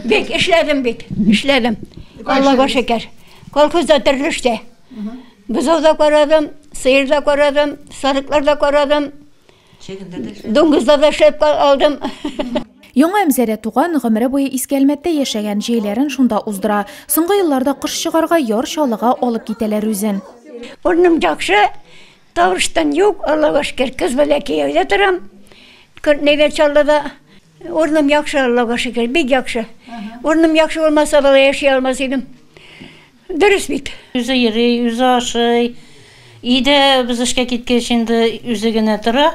Бик эшләдем бит, эшләдем. Аллага шөкер. Колхозда төрле эштә. Бозау да карадым, сыер да карадым, сарыклар да карадым. Дуңгызда да эшләп алдым. Яңа Әмзәрә туган, гомере буе Иске Әлмәттә яшәгән, җәйләрен шунда уздыра. Соңгы елларда кыш чыгарга яр чалыга алып китәләр үзен. Урным яхшы, тавыштан юк, Аллага шөкер. Кыз белән кияүдә торам. Күрнегә чаллыда. Урыным яхшы, Аллага шөкер, бик яхшы. Урыным яхшы булмаса, бала яши алмас идем. Дөрес бит. Үзе йөри, үзе ашый. Өйдә без эшкә киткәч инде үзе генә тора.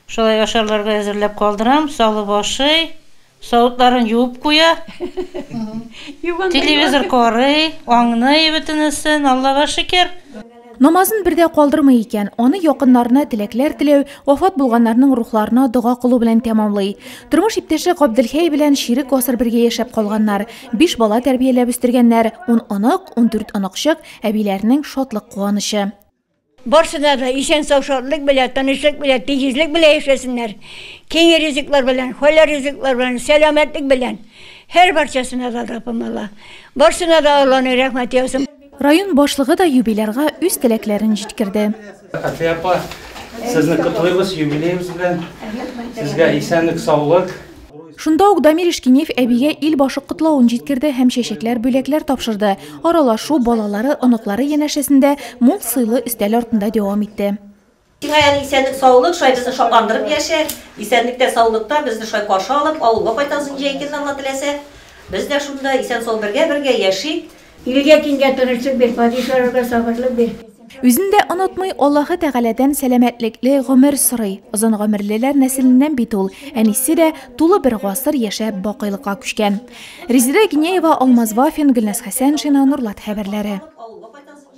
Шулай ашарларга әзерләп калдырам, салып ашый, савытларын юып куя. Телевизор карый, аңный бөтенесен, Аллага шөкер. Намазын бер дә калдырмый икән, аны якыннарына теләкләр теләү, вафат булганнарның рухларына дога кылу белән тәмамлый. Тормыш иптәше Габделхәй белән чирек гасыр бергә яшәп калганнар, биш бала тәрбияләп үстергәннәр, ун онык, ундүрт оныкчык, әбиләренең шатлык-куанычы. Барсына да исән-сау, шатлык белән, тынычлык белән, тигезлек белән яшәсеннәр, киң ризыклар белән, хәләл ризыклар белән, сәламәтлек белән! Һәрбарчасына да Аллаһ тәбарак ва тәгалә барсына да Аллаһның рәхмәте яусын! Район башлыгы да юбилярга үз теләкләрен җиткерде. Әти апа, сезне котлыйбыз юбилеегыз белән. Сезгә исәнлек, саулык. Шунда ук Дамир Ишкинеев әбигә ил башы котлавын җиткерде һәм чәчәкләр, бүләкләр тапшырды. Аралашу балалары, оныклары янәшәсендә мул сыйлы өстәл артында дәвам итте. Сиңа яне исәнлек саулык, шулай безне шатландырып яшә. Исәнлектә саулыкта безне шулай каршы алып, авылга кайтасың җәй көнне Алла теләсә. Без дә шунда исән сау бергә бергә яшик. Илгә дингә тырышлык бир, падишаларга сабырлык бир. Үзен дә онытмый, Аллаһы Тәгаләдән сәламәтлекле гомер сорый. Озын гомерлеләр нәселеннән бит ул. Әнисе дә тулы бер гасыр яшәп бакыйлыкка күчкән. Резеда Гинеева, Алмаз Вафин, Гөлназ Хәсәншина, Нурлат хәбәрләре.